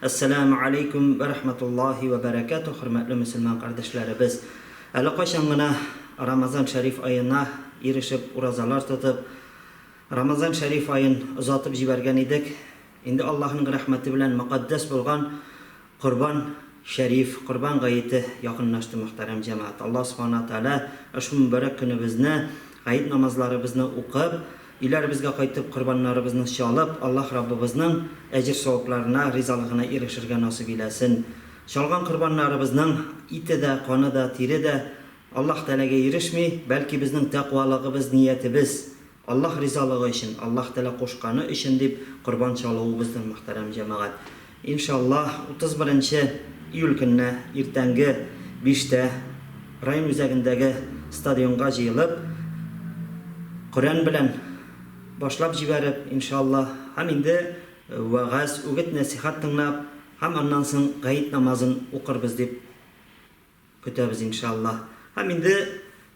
Әссәләмү алейкүм вә рахматуллаһи вә бәрәкәтүһ, хөрмәтле мөселман кардәшләребез! Әле кайчан гына Рамазан шәриф аена ирешеп, уразалар тотып, Рамазан шәриф аен озатып җибәргән идек, инде Аллаһының рәхмәте белән мөкатдәс булган Корбан шәриф, Корбан гаете якынлашты, мөхтәрәм җәмәгать! Аллаһ Субхана Тәгалә ошбу мөбарәк көнебезне, гает намазларыбызны укып, Өйләребезгә кайтып, корбаннарыбызны чалып, Аллаһ Раббыбызның әҗер-савапларына, ризалыгына ирешергә насыйп иләсен. Чалган корбаннарыбызның ите дә, каны да, тире дә Аллаһ Тәгаләгә ирешми, бәлки безнең тәкъвалыгыбыз, ниятебез, Аллаһ ризалыгы өчен, Аллаһ Тәгалә кушканы өчен дип корбан чалуыбыздыр, мөхтәрәм җәмәгать. Иншаллаһ, 31 нче июль көнне иртәнге биштә район үзәгендәге стадионга җыелып, Коръән белән башлап җибәреп, иншаллаһ, һәм инде вәгазь, үгет-нәсыйхәт тыңлап, һәм аннан соң гает намазын укырбыз дип Көтәбез иншаллаһ. Һәм инде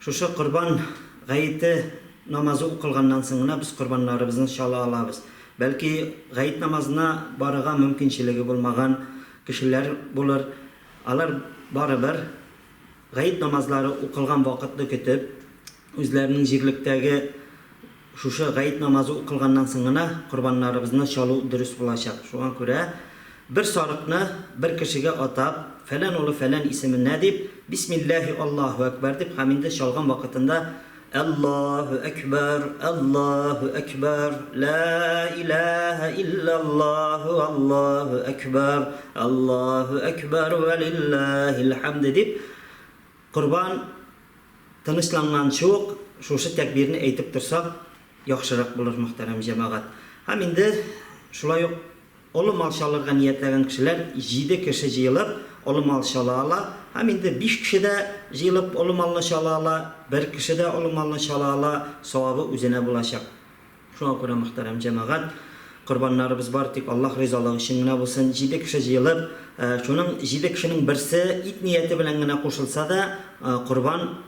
шушы корбан гаете намазы укылганнан соң гына без корбаннарыбызны чала алабыз. Бәлки гает намазына барырга мөмкинчелеге булмаган кешеләр булыр. Алар барыбер гает намазлары укылган вакытны көтеп, Үзләренең җирлектәге шушы гает намазы укылганнан соң гына корбаннарыбызны чалу дөрес булачак. Шуңа күрә бер сарыкны бер кешегә атап, фәлән улы фәлән исеменә дип, бисмилләһи Аллаһу әкбәр дип һәм инде чалган вакытында Әллаһу әкбәр, Әллаһу әкбәр, лә иләһә илләллаһу, Әллаһу әкбәр, Әллаһу әкбәр вә лилләһил хәмде дип корбан Тынычланганчы ук шушы тәкбирне әйтеп торсак, яхшырак булыр, мөхтәрәм җәмәгать. Һәм инде шулай ук олы мал чалырга ниятләгән кешеләр җиде кеше җыелып, олы мал чала ала. Һәм инде биш кеше дә җыелып, олы малны чала ала, бер кеше дә олы малны чала ала, савабы үзенә булачак. Шуңа күрә, мөхтәрәм җәмәгать, корбаннарыбыз бар тик Аллаһ ризалыгы өчен генә булсын. Җиде кеше җыелып, шуның җиде кешенең берсе ит нияте белән генә кушылса да, корбан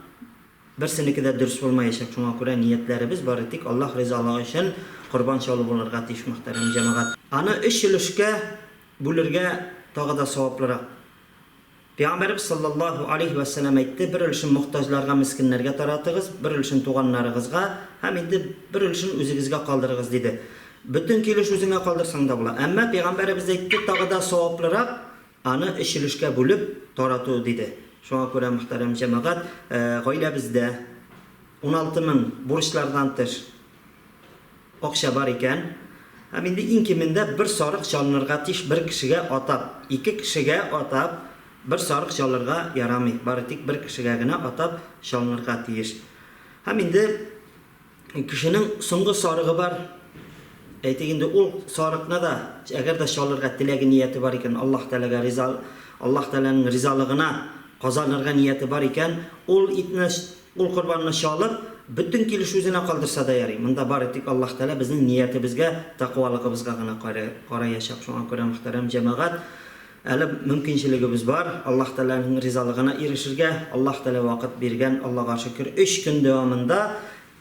берсенеке дә дөрес булмаячак. Шуңа күрә ниятләребез бары тик Аллаһ ризалыгы өчен корбан чалу булырга тиеш, мөхтәрәм җәмәгать. Аны өч өлешкә бүлергә тагы да саваплырак. Пәйгамбәребез салләллаһу алейһи вә сәлләм әйтте, бер өлешен мохтаҗларга, мескеннәргә таратыгыз, бер өлешен туганнарыгызга һәм инде бер өлешен үзегезгә калдырыгыз, диде. Бөтен ике өлеш үзеңә калдырсаң да була. Әмма Пәйгамбәребез әйтте, тагы да саваплырак, аны өч өлешкә бүлеп тарату, диде. Шуңа күрә, мөхтәрәм җәмәгать, гаиләбездә уналты мең, бурычлардан тыш, Акча бар икән, һәм инде иң кимендә бер сарык чалынырга тиеш, бер кешегә атап, ике кешегә атап бер сарык чалырга ярамый, бары тик бер кешегә генә атап чалынырга тиеш. Һәм инде кешенең соңгы сарыгы бар, әйтик инде ул сарыкны да, әгәр дә чалырга теләге нияте бар икән, Аллаһ Тәгаләгә риза, Аллаһ Тәгаләнең ризалыгына казанырга нияте бар икән, ул итне, Ул корбанны чалып, бөтен килеш үзенә калдырса да ярый. Монда бары тик Аллаһ Тәгалә безнең ниятебезгә, такъвалыгыбызга гына караячак. Шуңа күрә, мөхтәрәм җәмәгать, әле мөмкинчелегебез бар. Аллаһ Тәгаләнең ризалыгына ирешергә Аллаһ Тәгалә вакыт биргән, Аллага шөкер. Өч көн дәвамында,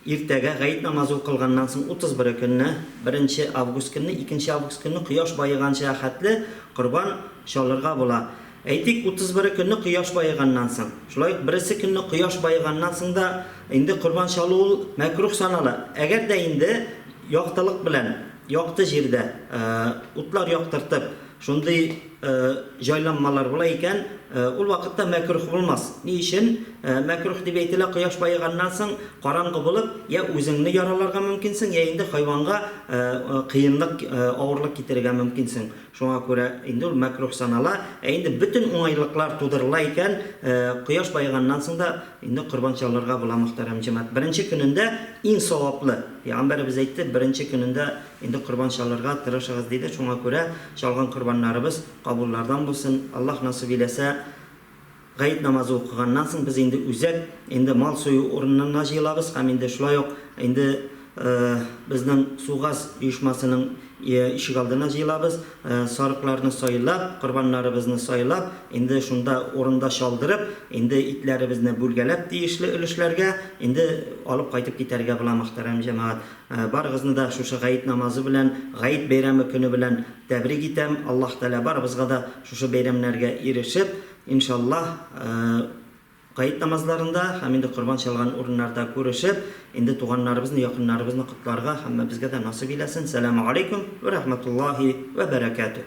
иртәгә, гает намазы укылганнан соң, 31 көнне, беренче август көнне, икенче август көнне, кояш баеганчыга хәтле корбан чалырга була. Әйтик, утыз бере көнне кояш баеганнан соң. Шулай ук бересе көнне кояш баеганнан соң да инде корбан чалу ул мәкруһ санала. Әгәр дә инде яктылык белән, якты җирдә, утлар яктыртып, шундый җайланмалар була икән, ул вакытта мәкруһ булмас. Ни өчен мәкруһ дип әйтелә, кояш баеганнан соң караңгы булып, йә үзеңне яраларга мөмкинсең, йә инде хайванга кыенлык, авырлык китерергә мөмкинсең. Шуңа күрә инде ул мәкруһ санала. Ә инде бөтен уңайлыклар тудырыла икән, кояш баеганнан соң да инде корбан чалырга була, мөхтәрәм җәмәгать. Беренче көнендә иң саваплы. Пәйгамбәребез әйтте, беренче көнендә инде корбан чалырга тырышыгыз, диде. Шуңа күрә чалган корбаннарыбыз кабуллардан булсын. Аллаһ насыйп иләсә. Гает намазы укыганнан соң без инде үзәк инде мал сою урынына җыелабыз һәм инде шулай ук инде безнең Сугаз оешмасының ишегалдына җыелабыз. Сарыкларны сайлап, корбаннарыбызны сайлап, инде шунда урында чалдырып, инде итләребезне бүлгәләп тиешле өлешләргә инде алып кайтып китәргә була, мөхтәрәм җәмәгать. Барыгызны да шушы гает намазы белән, гает бәйрәме көне белән тәбрик итәм. Аллаһ Тәгалә барыбызга да шушы бәйрәмнәргә ирешеп, Иншаллаһ, Гает намазларында һәм инде корбан чалган урыннарда күрешеп, инде туганнарыбызны, якыннарыбызны котларга һәммәбезгә дә насыйп иләсен. Сәлам алейкум вә рәхмәтуллаһи вә бәрәкәтүһ.